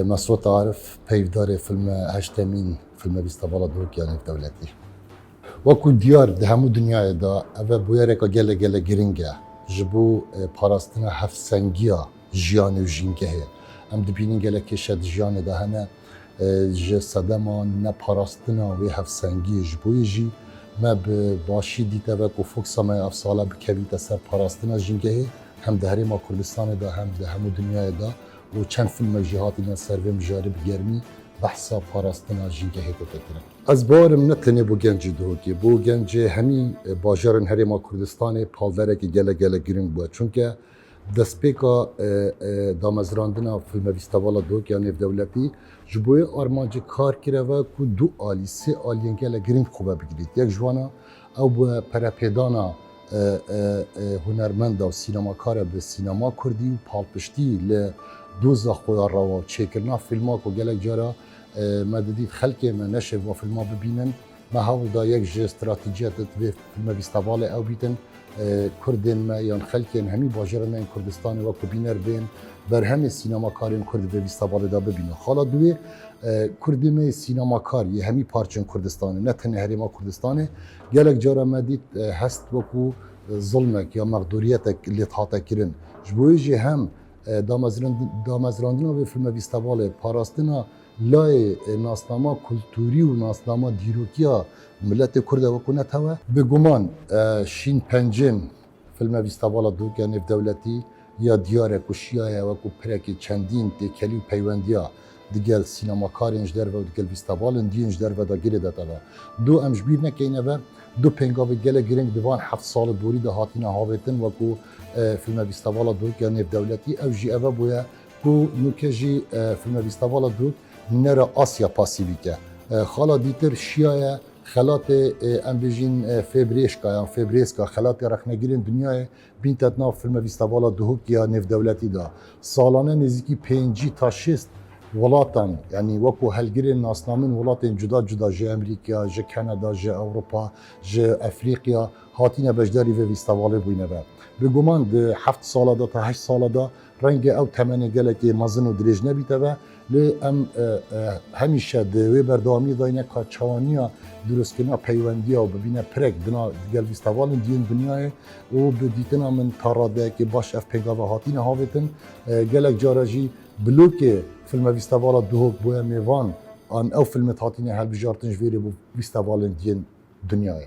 Mesrûr Arif, peyvdarê filme Heştemîn, filme Vîstavala Doruk ya Nêvdewletî. Wekû diyar di hemû dinyayê de ev bûyereke gelek gelek giring e ji bo parastina hevsengiya jiyanê û jîngehê. Em dibînin gelek kêşe di jiyanê de hene. Ji sedema neparastina wê hevsengiyê ji bo yê jî me bi başî dîteve ku foksa me ya ev sal e bikevîte ser parastina jîngehê hem di Herêma Kurdistanê de hem di hemû dinyayê de. û çend fîlmek jî hatine ser vê mijarê bi germî behsa parastina jîngehê dike kirin. Ez bawerim ne tenê bo gencê Duhokê, bo gencê hemî bajarên Herêma Kurdistanê palderekî gelek gelek giring bûye. Çunke destpêka damezrandina Filmevîstevala Duhokê ya Nêvdewletî ji bo wê armancê kar kireve ku du alî, sê aliyên gelek giring xwe ve bigrît. Yek ji wan a Ew bi perepêdana hunermenda û sînemakare bi sînema kurdî û palpiştî li doza xwe ya rewa û çêkirina fîlma ku gelek cara me didît xelkê me neşêv va fîlma bibînin, me hewl da yek ji stratîjiyete di vê fîlmevîstevalê ew bîtin, kurdên me yan xelkên hemî bajêra me yên Kurdistanê wek ku bîner bên berhemê sînemakarên kurd di vê vîstevalê de bibînin. Xala duyê. Kurdê me yê sînemakar yê hemî parçên Kurdistanê, ne tenê Herêma Kurdistanê. Gelek cara me dît hest wekû zilmek ya mexdûriyetek lêt hate kirin. Ji bo wê jî hem damezrandina vê filmevîstevalê, parastina layê nasnama kultûrî û nasnama dîrokiya miletê Kurd e wekû netew e. Bi guman şîn pencên Filme Vîstavala Dûrgê Nêvdewletî ya Diyar e ku şiyaye wekû pirekî çendîn têkelî û peywendiya digel sînemakarên ji derve û digel vîstavalên diyên ji derve de girê dete da. Du em ji bîr nekeyne ve du pêngavê gelek girîng di van heft salê borî de hatîne havêtin wekû Filme Vîstavala Dûrgê Nêvdewletî ew jî eve bûye ku nûkê jî Filme Vîstavala Dûrg nere Asya pasî bîke. Xala dîtir şiyaye Xelatê em bêjîn Fêbrêşka yan Fêbrêska xelatê rexnegirên dinyayê bîntet nav filme vîstavala Duhok ya Nêvdewletî de. Salane nêzîkî pêncî ta şêst welatan yanî weko helgirên nasnamin welatên cuda cuda ji Emrîkya, ji Keneda, ji Ewropa, ji Efrîkya hatîne beşdarî vê vîstavalê bûyne be. Bêguman di heft sala de ta heşt sala de Rengê ew temenê gelekê mezin û dirêj nebîte ve, lê em hemîşe di wê berdewamiyê de ne ka çawaniya dûrozkirina peywendiya û bibîne pirek di nav di gel vîstevalên diyên dinyayê û bi dîtina min ta radeyekê baş ev pêngava hatine havêtin. Gelek care jî blokê filme vîstevala Duhok boya mêvan an ew filmet hatine helbijartin ji vê rê bo vîstevalên diyên dinyayê.